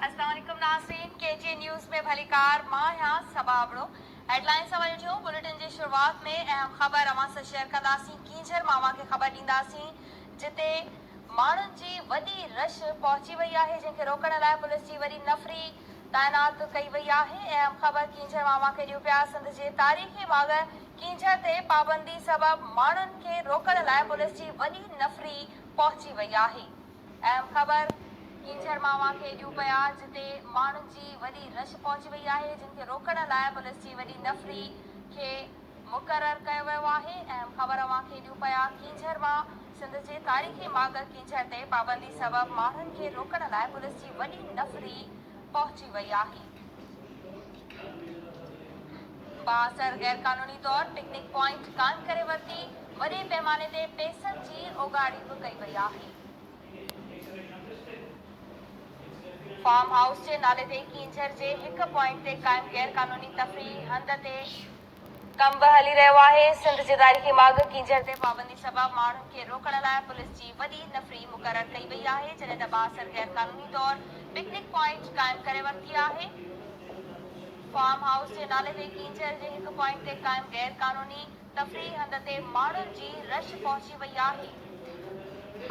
السلام عليڪم ناظرين ڪي جي نيوز ۾ ڀليڪار مان آهيان صبا ابڙو هيڊلائين سان وري ٺهيون بليٽن جي شروعات ۾ اهم خبر اوهان سان شيئر ڪنداسين ڪينجهر مان اوهان کي خبر ڏينداسين جتي ماڻهن جي وڏي رش پهچي وئي آهي جنهن کي روڪڻ لاء پوليس جي وڏي نفري تعينات ڪئي وئي آهي اهم خبر ڪينجهر مان اوهان کي ڏيون پيا سنڌ جي تاريخي ماڳ ڪينجهر تي پابندي سبب ماڻهن کي روڪڻ لاء پوليس جي وڏي نفري پهچي وئي آهي. اهم خبر، ڪينجهر مان اوهان کي ڏيون پيا جتي ماڻهن جي وڏي رش پهچي وئي آهي جن کي روڪڻ لاء پوليس جي وڏي نفري کي مقرر ڪيو ويو آهي اهم خبر اوهان کي ڏيون پيا ڪينجهر مان سنڌ جي تاريخي ماڳ ڪينجهر تي پابندي سبب ماڻهن کي روڪڻ لاء پوليس جي وڏي نفري پهچي وئي آهي. بااثر غيرقانوني طور پڪنڪ پوائنٽ قائم ڪري ورتي، وڏي پيماني تي پئسن جي اوڳاڙي به ڪئي وئي آهي. فارم هائوس جي نالي تي ڪينجهر جي هڪ پوائنٽ تي قائم غيرقانوني تفريحي هنڌ تي ڪم به هلي رهيو آهي، سنڌ جي تاريخي ماڳ ڪينجهر تي پابندي سبب ماڻهن کي روڪڻ لاء پوليس جي وڏي نفري مقرر ڪئي وئي آهي، جڏهن ته بااثر غيرقانوني طور پڪنڪ پوائنٽ قائم ڪري ورتي آهي، فارم هائوس جي نالي تي ڪينجهر جي هڪ پوائنٽ تي قائم غيرقانوني تفريحي هنڌ تي ماڻهن جي رش پهچي وئي آهي،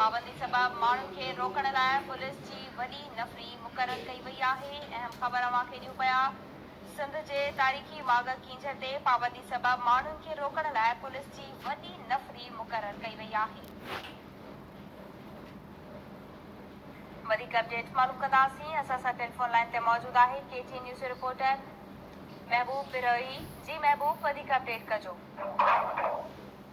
پابندي سبب ماڻهن کي روڪڻ لاء پوليس جي وڏي نفري مقرر ڪئي وئي آهي، اهم خبر اوهان کي ڏيون پيا. سنڌ جي تاريخي ماڳ ڪينجهر تي پابندي سبب ماڻهن کي روڪڻ لاء پوليس جي وڏي نفري مقرر ڪئي وئي آهي. وڌيڪ اپڊيٽ معلوم ڪنداسين اسان سان ٽيليفون لائين تي موجود آهي ڪي ٽي اين نيوز جو رپورٽر محبوب بروهي جي محبوب وڌيڪ اپڊيٽ ڪجو.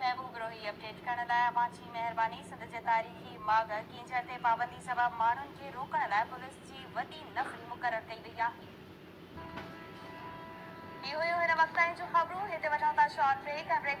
محبوب روهي اپڊيٽ ڪرڻ لاء اوهان جي مهرباني سنڌ جي تاريخي ماڳ ڪينجهر تي پابندي سبب ماڻهن کي روڪڻ لاء پوليس جي وڏي نفري مقرر ڪئي وئي آهي. هي هيون هن وقت تائين جون خبرون هتي وٺون ٿا شارٽ بريڪ ۽ بريڪ کان